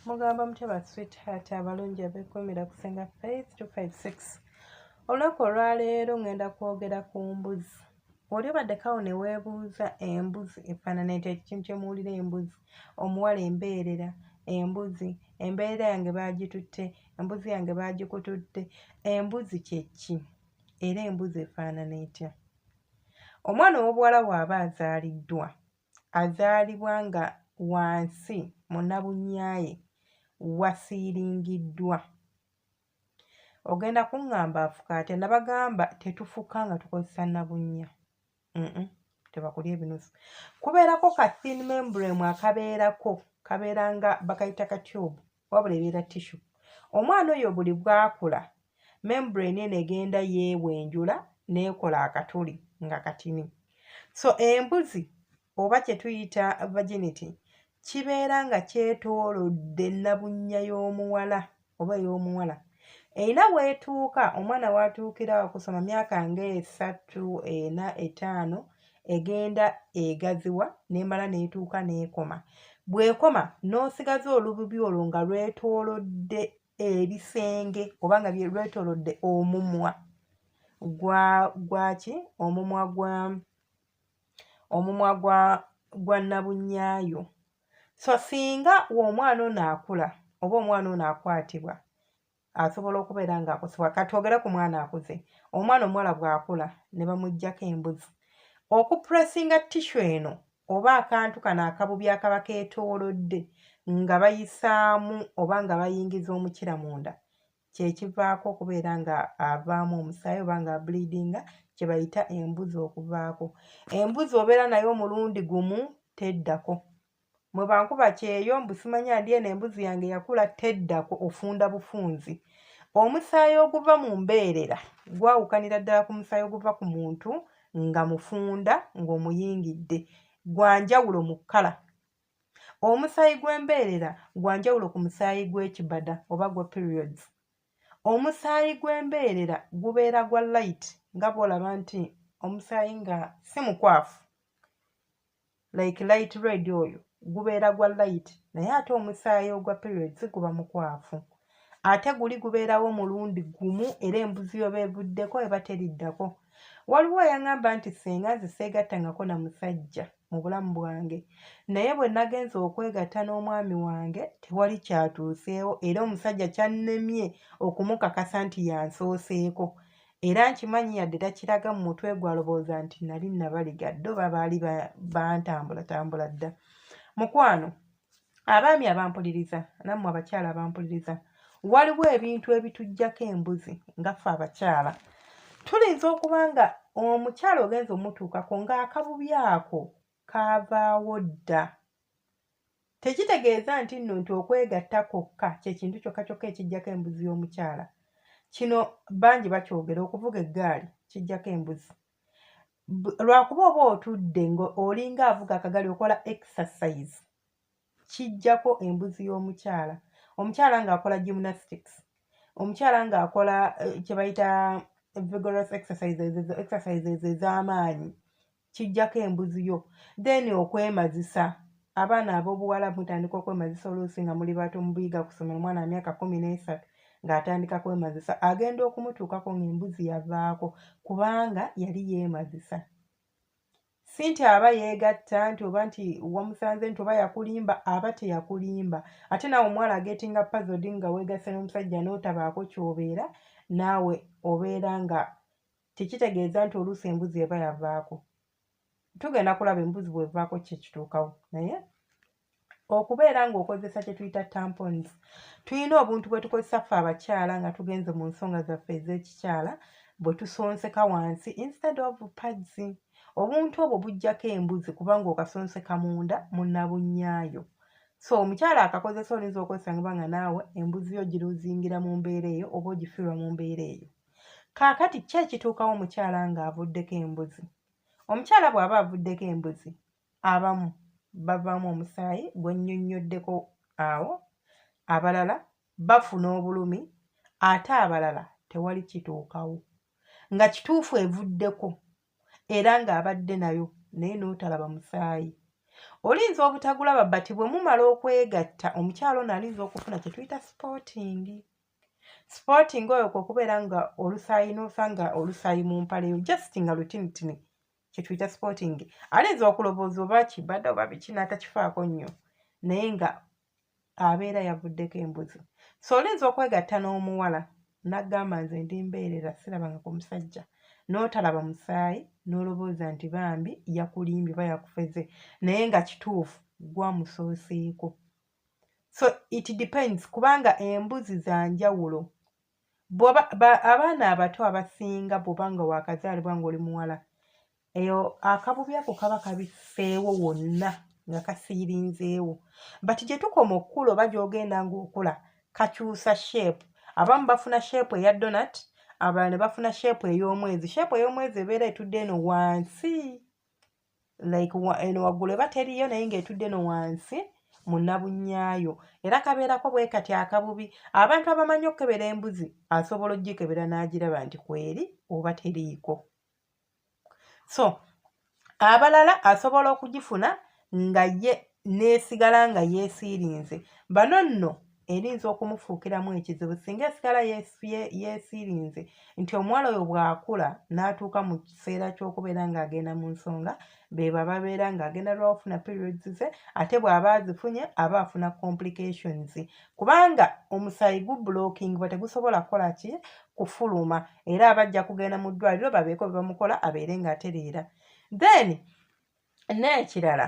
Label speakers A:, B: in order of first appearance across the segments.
A: mugamba mutya ba sweetheart abalungi abekumira kusinga faith 256 olunaku olwaleero ngenda kwogera ku mbuzi oli obaddeko awo ne weebuuza embuzi efaanana etya ekintu kye muwulira embuzi omuwala embeerera embuzi embeerera yange baagitutte embuzi yange baagikutudde embuzi kye ki era embuzi efaanana etya omwana ow'obuwala waaba azaaliddwa azaalibwa nga wansi munabunyaaye wasiiringiddwa ogenda kuŋŋamba afuka atya nabagamba tetufuka nga tukozesa nabunnya tebakulya ebinusu kubeerako ka thin membrem akabeerako kabeera nga bakayita ka tube wabula ebeera tissu omwana oyo buli bwakula membrane eno egenda yeewenjula neekola akatuli nga katini so embuzi oba kye tuyita virginity kibeera nga kyetoolodde nnabunnya y'omuwala oba ey'omuwala erina weetuuka omwana waatuukira okusoma myaka ng'esatu ena etaano egenda egaziwa n'emala n'etuuka n'ekoma bw'ekoma n'osigaza olububi olwo nga lwetoolodde ebisenge oba nga lwetoolodde omumwa gwaki omumwa gwa omumwa gwa gwa nabunyaayo so singa omwana ono akula oba omwana ono akwatibwa asobola okubeera nga akusibwa kati ogere ku mwana akuze omwana omuwala bwakula ne bamuggyako embuzi okupressinga tishu eno oba akantu kano akabubi akaba keetoolodde nga bayisaamu oba nga bayingiza omukira munda kyekivaako okubeera nga avaamu omusaayi oba nga ableedinga kyebayita embuzi okuvaako embuzi obeera naye omulundi gumu teddako mwebankuba kyeyo mbusimanya ndi eno embuzi yange yakula teddako ofunda bufunzi omusaayi oguva mu mbeerera gwawukanira ddala ku musaayi oguva ku muntu nga mufunda ng'omuyingidde gwanjawulo mu kkala omusaayi gw'embeerera gwa njawulo ku musaayi gw'ekibada oba gwa periods omusaayi gw'embeerera gubeera gwa light nga bwolaba nti omusaayi nga si mukwafu like light red oyo gubeera gwa light naye ate omusaayi ogwa periods guba mukwafu ate guli gubeerawo mulundi gumu era embuzi oba evuddeko eba teriddako waliwo eyaŋamba nti senga nze seegattangako na musajja mu bulamu bwange naye bwe nagenza okwegatta n'omwami wange tewali kyatuuseewo era omusajja kyannemye okumukakasa nti yansooseeko era nkimanyi yadde takiraga mu mutwe gwalowooza nti nali nabaligadde oba baali bantambulatambula dda mukwano abaami abampuliriza nammwe abakyala abampuliriza waliwo ebintu ebitujjako embuzi nga ffe abakyala tuyinza okuba nga omukyala ogenza omutuukako ng'akabubi ako kaavaawo dda tekitegeeza nti nno nti okwegatta kwokka kyekintu kyokka kyokka ekijjako embuzi y'omukyala kino bangi bakyogera okuvuga eggaali kijjako embuzi lwakuba oba otudde ngaolinga avuga akagali okola exercise kijjako embuzi y'omukyala omukyala ng'akola gymnastics omukyala ng'akola eh, kyebayita vigorous exercises ezo exercises ez'amaanyi kijjako embuzi yo then okwemazisa abaana ab'obuwala mutandika okwemazisa oluusi nga muli bato mubuyiga ku ssomero omwana wa myaka kumi n'esatu ng'atandika kwemazisa agenda okumutuukako ng'embuzi yavaako kubanga yali yeemazisa si nti aba yeegatta nti oba nti wamusanze nti oba yakulimba aba teyakulimba ate naawe omuwala agetinga pazodi nga weegasse n'omusajja n'otabaako ky'obeera naawe obeera nga tekitegeeza nti oluusi embuzi eba yavaako tugenda kulaba embuzi bwevaako ki ekituukawo naye okubeera ng'okozesa kye tuyita tampons tulina obuntu bwe tukozesa ffe abakyala nga tugenze mu nsonga zaffe ez'ekikyala bwe tusonseka wansi instead of pads obuntu obwo bujjako embuzi kubanga okasonseka munda munabunyaayo so omukyala akakozesa olinza okozesa ngaba nga naawe embuzi yo giruzingira mu mbeera eyo oba ogifirwa mu mbeera eyo kaakati ki ekituukawo omukyala ng'avuddeko embuzi omukyala bw'aba avuddeko embuzi abamu bavaamu omusaayi gwennyonnyoddeko awo abalala bafuna obulumi ate abalala tewali kituukawo nga kituufu evuddeko era ng'abadde nayo naye n'otalaba musaayi olinza obutagulaba bati bwe mumala okwegatta omukyalo ono alinza okufuna kye tuyita sipotingi sporting oyo kwokubeera nga olusayi nosa nga olusayi mu mpale yo just nga lutinitini kyetuyita sporting ayinza okulowooza oba kibadde oba biki natakifaako nnyo naye nga abeera yavuddeko embuzi so olinza okwegatta n'omuwala nagamba nze ndi mbeerera sirabanga ku musajja n'otalaba musaayi n'olowooza nti bambi yakulimbye oba yakufeze naye nga kituufu gwamusooseeko so it depends kubanga embuzi za njawulo abaana abato abasinga bwoba nga wakazaalibwa ngaoli muwala eyo akabubi ako kaba kabifeewo wonna nga kasiirinzeewo but gye tukoma okukula oba gyogenda ngaokula kakyusa shape abamu bafuna shape eya donat abalala ne bafuna shape ey'omwezi shape ey'omwezi ebeera etudde eno wansi like eno waggulu eba teriyo naye ng'etudde no wansi munabunyaayo era kabeerako bwe kati akabubi abantu abamanyi okukebera embuzi asobola ogikebera n'agiraba nti kweri oba teriiko so abalala asobola okugifuna nga ye n'esigala nga yeesiirinze bano nno erinza okumufuukiramu ekizibu singa esigala yeesiirinze nti omuwala oyo bw'akula n'atuuka mu kiseera ky'okubeera ng'agenda mu nsonga bebo ababeera ng'agenda lwawafuna periods ze ate bw'aba azifunye aba afuna complications kubanga omusaayi gu blocking ba tegusobola kukola ki kufuluma era abajja kugenda mu ddwaliro babeeko bebamukola abeere ng'atereera then n'ekirala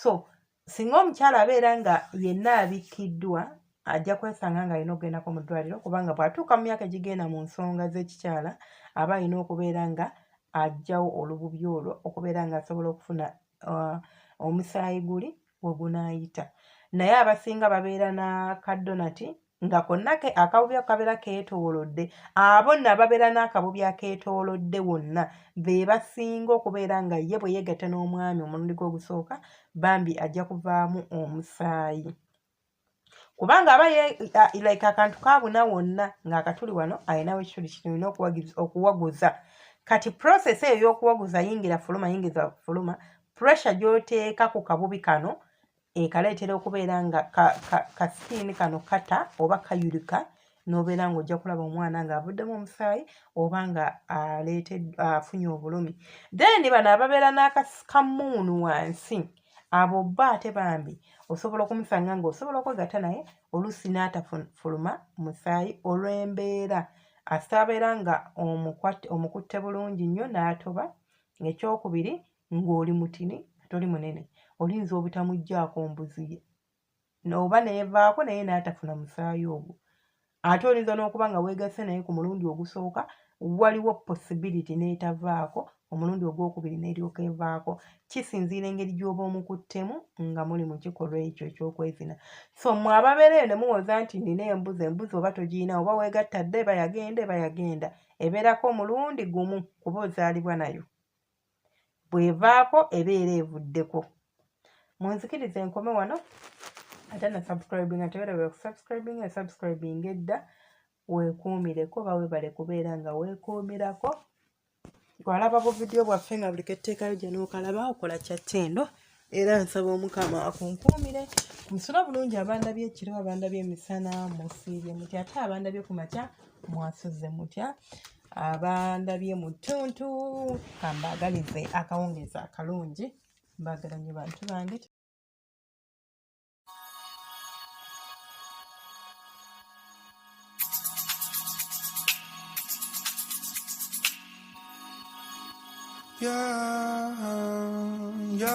A: so singa omukyala abeera nga yenna abikkiddwa ajja kwesanga nga alina okugendako mu ddwaliro kubanga bw'atuuka mu myaka egigenda mu nsonga z'ekikyala aba alina okubeera nga ajjawo olububi olwo okubeera nga asobola okufuna uh, omusaayi guli we gunaayita naye abasinga babeera na kadonati nga konna ke akabubi akabeera keetoolodde abo nno ababeera n'akabubi akeetoolodde wonna be basinga okubeera nga ye bwe yeegatta n'omwami omulundi gw'ogusooka bambi ajja kuvaamu omusaayi kubanga aba like akantu kabuna wonna ng'akatuli wano alinawo ekituli kirina okuwaguza kati process eyo y'okuwaguza yingira fuluma yingiza fuluma pressure gy'oteeka ku kabubi kano ekala etera okubeera nga kasikiini ka, ka kano kata oba kayulika n'obeera ng'ojja kulaba omwana ng'avuddemu omusaayi oba nga afunye obulumi then bano ababeera n'akasikamuunu wansi abo bba ate bambi osobola okumusanga ng'osobola okwegatta naye oluusi n'atafuluma musaayi olw'embeera asaabeera nga omukutte bulungi nnyo n'atoba ekyokubiri ng'oli mutini toli munene oyinza obutamuggyako mbuzi ye oba neevaako naye n'atafuna musaayi ogwo ate oyinza n'okuba nga weegasse naye ku mulundi ogusooka waliwo possibility n'etavaako omulundi ogwokubiri n'eryoka evaako kisinziira engeri gy'oba omukuttemu nga muli mu kikolwa ekyo ekyokwezina so mwe ababeera eyo ne muwoza nti nina embuzi embuzi oba togiyina oba weegatta dde eba yagenda eba yagenda ebeerako omulundi gumu kuba ozaalibwa nayo bwevaako ebeera evuddeko munzikiriza enkome wano ate na subscribe nga tewerabira okusubscribinga esubscribing edda weekuumireko oba webale kubeera nga weekuumirako walaba buvidiyo bwaffe nga buli ketteekayo gye nookalaba okola kyatendo era nsaba omukama akunkuumire musula bulungi abandabye ekiro abandabye emisana musiibye mutya ate abandabye ku makya mwasuze mutya abandabye mu ttuntu kambaagalize akawungeezi akalungi mbaagala nnyo bantu bange Yeah, yeah.